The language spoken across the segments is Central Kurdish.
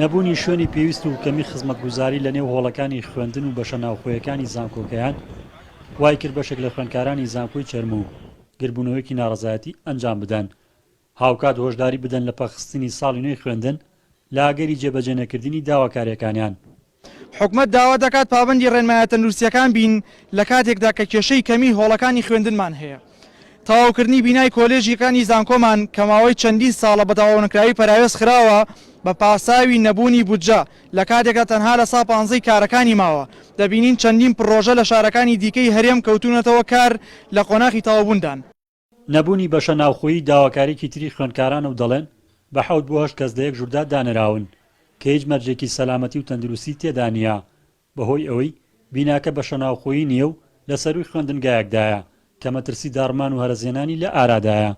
نەبوونی شوێنی پێویست و کەمی خزمەتگوزاری لە نێو هۆڵەکانی خوێندن و بەشە ناوخۆیەکانی زانکۆکەیان وای کرد بەشێک لە خوێندکارانی زانکۆی چەرموو و گردبوونەوەیەکی ناڕەزایەتی ئەنجام بدەن هاوکات هۆشداری بدەن لە پەخستنی ساڵی نوێی خوێندن لە ئەگەری جێبەجێنەکردنی داواکارییەکانیان. حکومەت داوا دەکات پابەندی ڕێنمایە تەندروستییەکان بین لە کاتێکدا کە کێشەی کەمیی هۆڵەکانی خوێندنمان هەیە. تەواوکردنی بینای کۆلێژییەکانی زانکۆمان کە ماوەی چەندین ساڵە بە تەواونەکراوی پەراوێز خراوە بە پاساوی نەبوونی بودجە لە کاتێکدا تەنها لە سا پانزەی کارەکانی ماوە، دەبینین چەندین پڕۆژە لە شارەکانی دیکەی هەرێم کەوتوونەتەوە کار لە قۆناخی تەواوبووندان. نەبوونی بەشە ناوخۆیی داواکاریەکی تری خوێندکارانە و دەڵێن، بە حەوت بۆ هەشت کەس لە یەک ژووردا دانراون، کە هیچ مەرجێکی سەلامەتی و تەندروستی تێدا نییە، بەهۆی ئەوەی بیناکە بەشە ناوخۆیی نییە و لە سەرووی خوێندنگایەکدایە، کە مەترسی داڕمان و هەرەسهێنانی لە ئارادایە.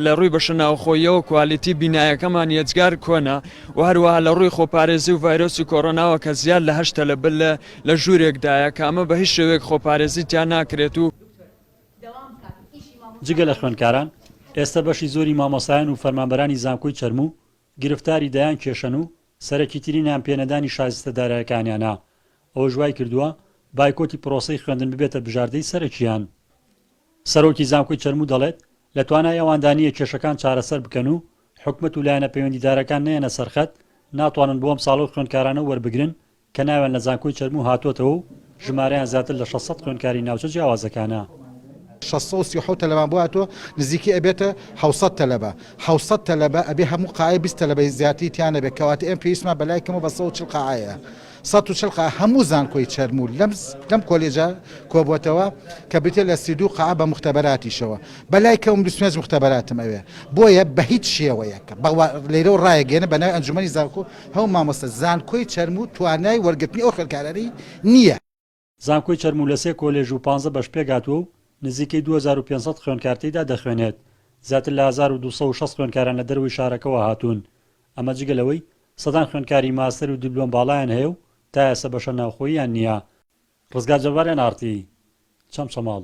لە ڕووی بەشە ناوخۆییەوە کوالیتی بینایەکەمان یەجگار کۆنە و هەروەها لە ڕووی خۆپارێزی و ڤایرۆسی کۆرۆناوە کە زیاد لە هەشت تەلەبە لە ژوورێکدایە، کە ئەمە بە هیچ شێوەیەک خۆپارێزی تیا ناکرێت و، جگە لە خوێندکاران، ئێستە بەشی زۆری مامۆستایان و فەرمانبەرانی زانکۆی چەرموو گرفتاری دەیان کێشەن و سەرەکیترینیان پێنەدانی شایستە دارایەکانیانە، ئەوەش وایکردووە بایکۆتی پرۆسەی خوێندن ببێتە بژاردەی سەرەکییان. سەرۆکی زانکۆی چەرموو دەڵێت، لە توانای ئەواندا نییە کێشەکان چارەسەر بکەن و حکومەت و لایەنە پەیوەندیدارەکان نەیەنە سەرخەت، ناتوانن بۆ ئەمساڵ ئەو خوێندکارانە وەربگرن کە ناویان لە زانکۆی چەرموو هاتووەتەوە و ژمارەیان زیاتر لە شەش سەد خوێندکاری ناوچە جیاوازەکانە. شەش سەد و سی و حەوت تەلەبەیان بۆ هاتووە، نزیکەی ئەبێتە حەوت سەد تەلەبە. حەوت سەد تەلەبە ئەبێ هەموو قاعەی بیست تەلەبەی زیاتری تیا نەبێت، کەواتە ئێمە پێویستمان بە لای کەمەوە بە سەد و چل قاعە هەیە. سەد و چل قاعە هەموو زانکۆی چەرموو لەم کۆلێجە کۆبووەتەوە، کە بریتییە لە سی و دوو قاعە بە موختەبەراتیشەوە. بە لای کەم بیست و پێنج موختەبەراتم ئەوێ. بۆیە بە هیچ شێوەیەک لێرەوە رایەگەیەنە بە ناوی ئەنجوومەنی زانکۆ، هەوو مامۆستا زانکۆی چەرموو توانای وەرگرتنی ئەو خوێندکارانەی نییە. زانکۆی چەرموو لە سێ کۆلێژ و پانزە بەش پێکهاتووە و نزیکەی دوو هەزار و پێنج سەد خوێندکار تێیدا دەخوێنێت. زیاتر لە هەزار و دوو سەد و شەست خوێندکاران لە دەرەوەی شارەکەوە هاتوون. ئەمە جگە لەوەی سەدان خوێندکاری ماستەر و دیبلۆم باڵایان هەیە و تا ئێستا بەشە ناوخۆییان نییە. ڕزگار جەباریان ئاڕتی چەمچەماڵ.